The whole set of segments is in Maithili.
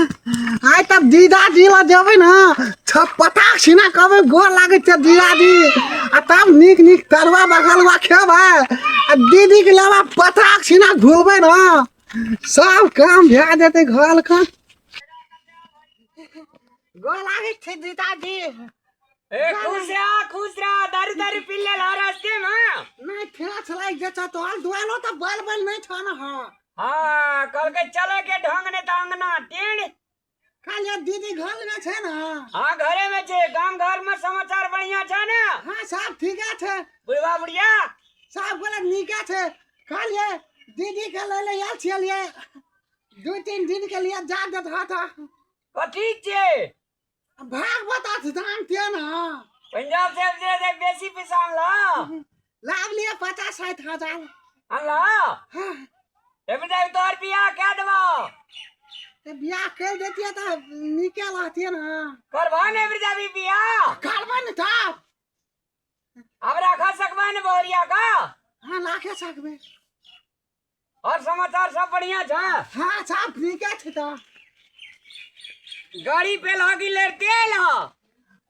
आइ तब दीदाजी लग जेबै ने छपटा छिना कहबै गोर लागै छै दीदाजी आ तब नीक नीक तरुआ बगलुआ खेबै आ दीदीके लेबै पटाक छिना घुरबै ने सब काम भए जेतै घरके गोर लागै छै दीदाजी ए खुश रह खुश रह दारू दारू पी ले ला रास्ते में नहीं फेर छलाई जे छ तो हाल दुआलो त बल बल नहीं छाना हां हाँ कहलकै चले के ढंग ने त अंगना टेढ़ खाली अब दीदी घर में छे ना हाँ घरे में छे गांव घर में समाचार बढ़िया छे ना हाँ सब ठीक छे बुढ़वा बुढ़िया सब बोले नीक छे खाली दीदी के ले ले आल छिए दू तीन दिन के लिए जा देत हाथ कथी छे भागवत अछि जानते ना पंजाब से दे दे बेसी पैसा ला लाभ लिए पचास साठ हजार ला हाँ, एबे जाई तोर बियाह के देबो ते बियाह कर देतिए तो निके रहतिए ना करबा ने एबे जाबी बियाह करबा ने था अब राखा सकबा ने बोरिया का हाँ लाखे सकबे और समाचार सब बढ़िया छ हां सब ठीक छ त गाड़ी पे लागी ले तेल ह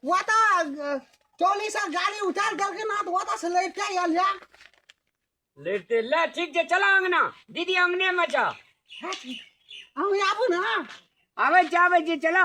वो तो टोली से गाड़ी उतार करके ना तो वो तो से लेट के आयल या लेट तेल ले ठीक जे चला अंगना दीदी अंगने में छ हम आबू ना आवे जावे जे चला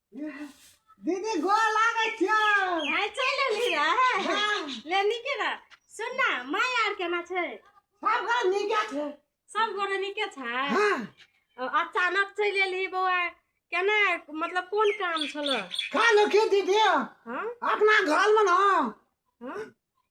दीदी गोर लागै छियो आइ चलि एली रहे ले नीके रह सुन ना माय आर केना छै सब घर नीके छै सब गोरे नीके छै हाँ अ, अचानक चलि एली बौआ केना मतलब कोन काम छल कहलो की दीदी हाँ अपना घर में ना हाँ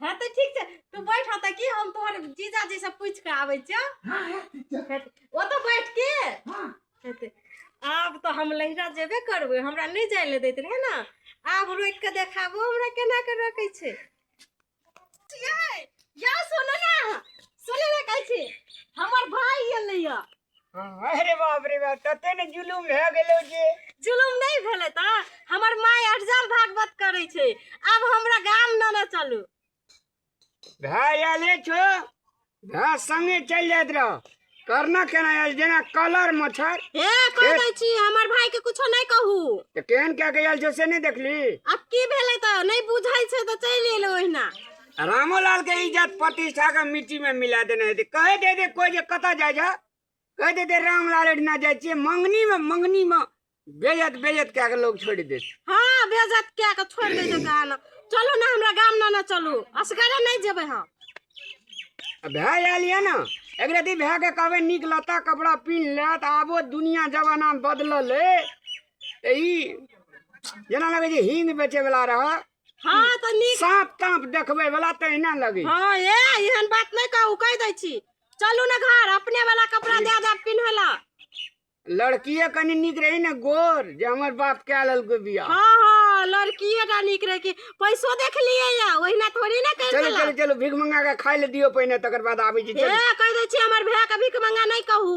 हँ तऽ ठीक छै तू बैठ हँ तऽ की हम तोहर जीजा जी से पूछि कऽ आबै छियौ हाँ हाँ ठीक है हेतै। ओतऽ बैठ के हाँ हेतै आब तऽ हम लहिरा जेबे करबै हमरा नहि जाय लए दैत रहै ने आब रोकि कऽ देखाबो हमरा केना कऽ रखै छै छियै, या सुनू ने सुनू ने कहै छी हमर भाय एलैया हाँ, अरे बाप रे बाप तते ने जुलुम भए गेलौ जे जुलुम नहि भेलै तऽ हमर माय अटजल भागवत करै छै आब हमरा गाम नेने चलू भाय आले छो भाय संगे चलि जाइत रह करना केना आयल जेना कलर मच्छर हे कह दै छी हमर भाय के कुछो नहि कहू तऽ केहन कए के आयल छो से नहि देखली आब की भेलै तऽ नहि बुझै छै तऽ चलि एलै ओहिना रामो लाल के इज्जत प्रतिष्ठा के मिट्टी में मिला देने हेतै कहे दे दे कोई जे कतऽ जाइ जा कहे दे दे राम लाल एहिना जाइ छियै मंगनी में मंगनी में बेजत बेजत कए के लोग छोड़ि देत हाँ बेजत कए के छोड़ि दै छै गाल चलू ने हमरा गाम ने ने चलू असगरे नहि जेबै हम आ भए आयल यऽ ने एक रति भए के कहबै नीक लत्ता कपड़ा पिन्ह लेत आबो दुनिया जमाना बदलल है तऽ ई जेना लगै छै हिंग बेचै बला रहऽ हाँ तऽ नीक साँप ताँप देखबै वाला तहिना लगे हाँ ए एहन बात नहीं कहू कह दै छी चलू ने घर अपने वाला कपड़ा दे दे पिन्है ला लड़किए कनि नीक रही ने गोर जे हमर बाप कए लेलकै बियाह हाँ हाँ लड़किए टा नीक रहे कि पैसो देख लिए या ओहिना थोड़ी ना कर चलो देला चलो चलो भीख मंगा के खाय ले दियो पहिने तकर बाद आबै छी ए चलो कह दै छी हमर भैया के भीख मंगा नहीं कहू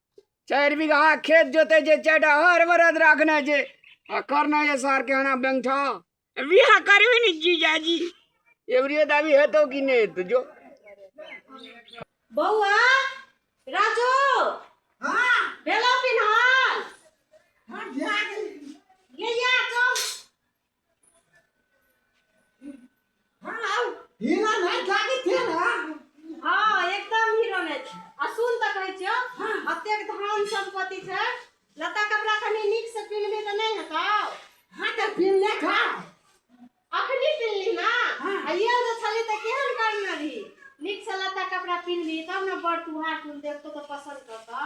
चारि बीघा खेत जोते जे चारिटा हर बरद राखने जे आ करना ये सार के हना बैंठा बिहा करबे ने जीजाजी एवरियो दाबी हेतो कि नहीं हेतो जो बौआ राजू हाँ भेलो पिन्हल हाँ ध्यान ले जा हीरा नहीं जागे थे ना हाँ एकदम हीरो ने छै आ सुन तऽ कहै छियो अतेक धान संपत्ति छै लता कपड़ा कनी नीक से पिन्हबे तऽ नहि हेतौ हाँ तो फिर ले खा अखनी पिन्हली ना हाँ। आ ये जे छली तऽ केहन करने रही नीक से लता कपड़ा पिन्हली तब ने बड़ तुहार तुल देखतो तऽ पसंद करतौ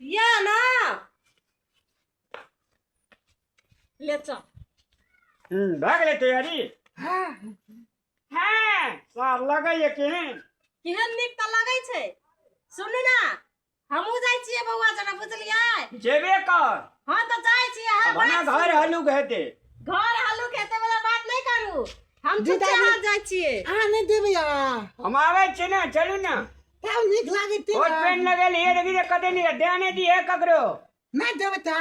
ইয়া না ले चल हम्म, भाग ले तैयारी हाँ हाँ सार लगे ये केहन केहन नीक तऽ लगै छै सुनू ने हमहूँ जाइ छियै बौआ जेना बुझलियै जेबे कर हँ तऽ जाइ छियै अहाँ भना बात घर सुनू। हलुक हेते घर हल्लू खेते वाला बात नहीं करू हम चुपचाप हाथ जाइ छियै अहाँ नहि देबै आब हम आवे छी ना चलू ना तब नीक लागै ते कोट पेन लगेली हे देखी जे कते नीक दे नहि दी हे ककरो नहि देबै ता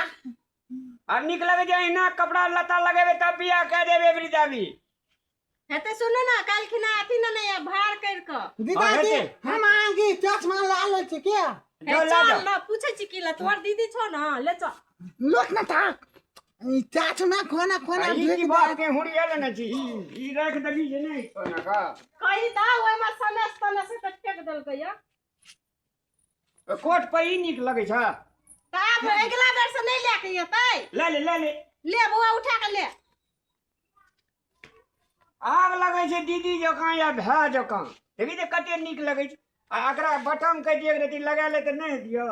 आब नीक लगै छै अहिना कपड़ा लत्ता लगेबै तब बियाह कए देबै एबरी दाबी हेतै सुनू ने काल्हि खिना अथी ने नहि भार करि कऽ दीदा हाँ, जी हेतै। हम अहाँके चश्मा ला लै छी के हे, लो, ला चल जाओ। ने पूछै छी की लए तोहर दीदी छौ ने ले चल लोक ने था ई चाट ना कोना कोना ई भेज की बात दे के हुड़ी आले ना जी ई ई रख देली जे नहीं कोना का कही दा ओए में सनेस तने से तक टेक देल गया तो कोट पर ई निक लगे छ ता अब अगला बेर से नहीं लेके येतै ले ले ले ले ले बुआ उठा के ले आग लगे छै दीदी जकां या भै जकां देखी ते कते निक लगे छै आ एकरा बटम कह दिए रति लगा ले त नहीं दियो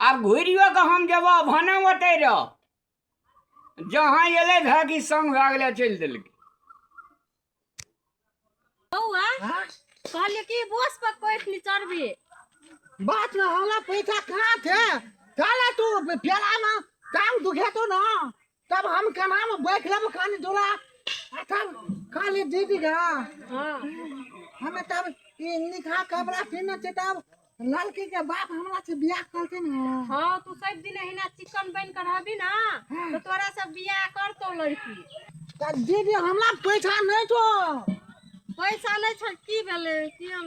आब घुरियो कऽ हम जेबऽ भने ओतै रह जहाँ एलै धऽ कि संग भए गेलै चलि देलकै बौआ कहलिए कि बोस पर कोइठ नहीं चढ़बी बात ना हमरा पैसा कहाँ थे काला तू प्याला ना टांग दुखे तो ना तब हम केना में बैठ लेब कानी डोला आ तब खाली दीदी गा हाँ हमे तब ई निकाह कपड़ा पीने छै तब लड़की के बाप हमरा से बियाह करते ने हाँ तू सब दिन हिना चिकन बन कर रहबी ना तो तोरा सब बियाह करतो लड़की तब दीदी हमरा पैसा नहीं छो पैसा नहीं छल की भेले कि हम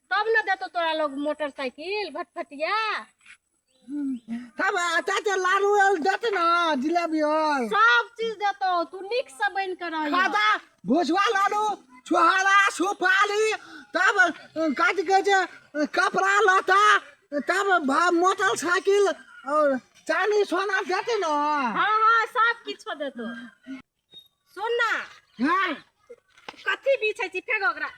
तब न देतो तोरा लोग मोटरसाइकिल भटफटिया तब अच्छा अच्छा लाडू आर देते ना जिलेबी आर सब चीज देतो तू निक से बन के रही खाजा भुसवा लाडू छुहारा सुपारी तब काटि के जे कपड़ा लता तब भा- मोटरसाइकिल और चांदी सोना देते ना हाँ हाँ सब किछो देतो सुन ना हाँ कथी बीछै छी फेर ओकरा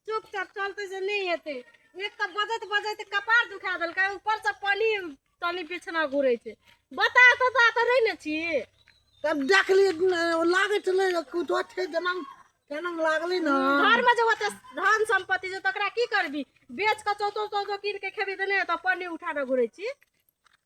चुपचाप चलते से नहीं हेतै एक तऽ बजैत बजैत कपार दुखा देलकै ऊपरसँ पानि तनी पीछना घूरे छै बता सता तऽ रहै ने छी तब देखली लागै छलै कुछ छै जेना केना लागलै ने घरमे जे ओते धन सम्पत्ति छै तकरा की करबी बेच कऽ चौतो चौतो कीन के खेबी तऽ नहि तऽ पानि उठा कऽ घूरे छी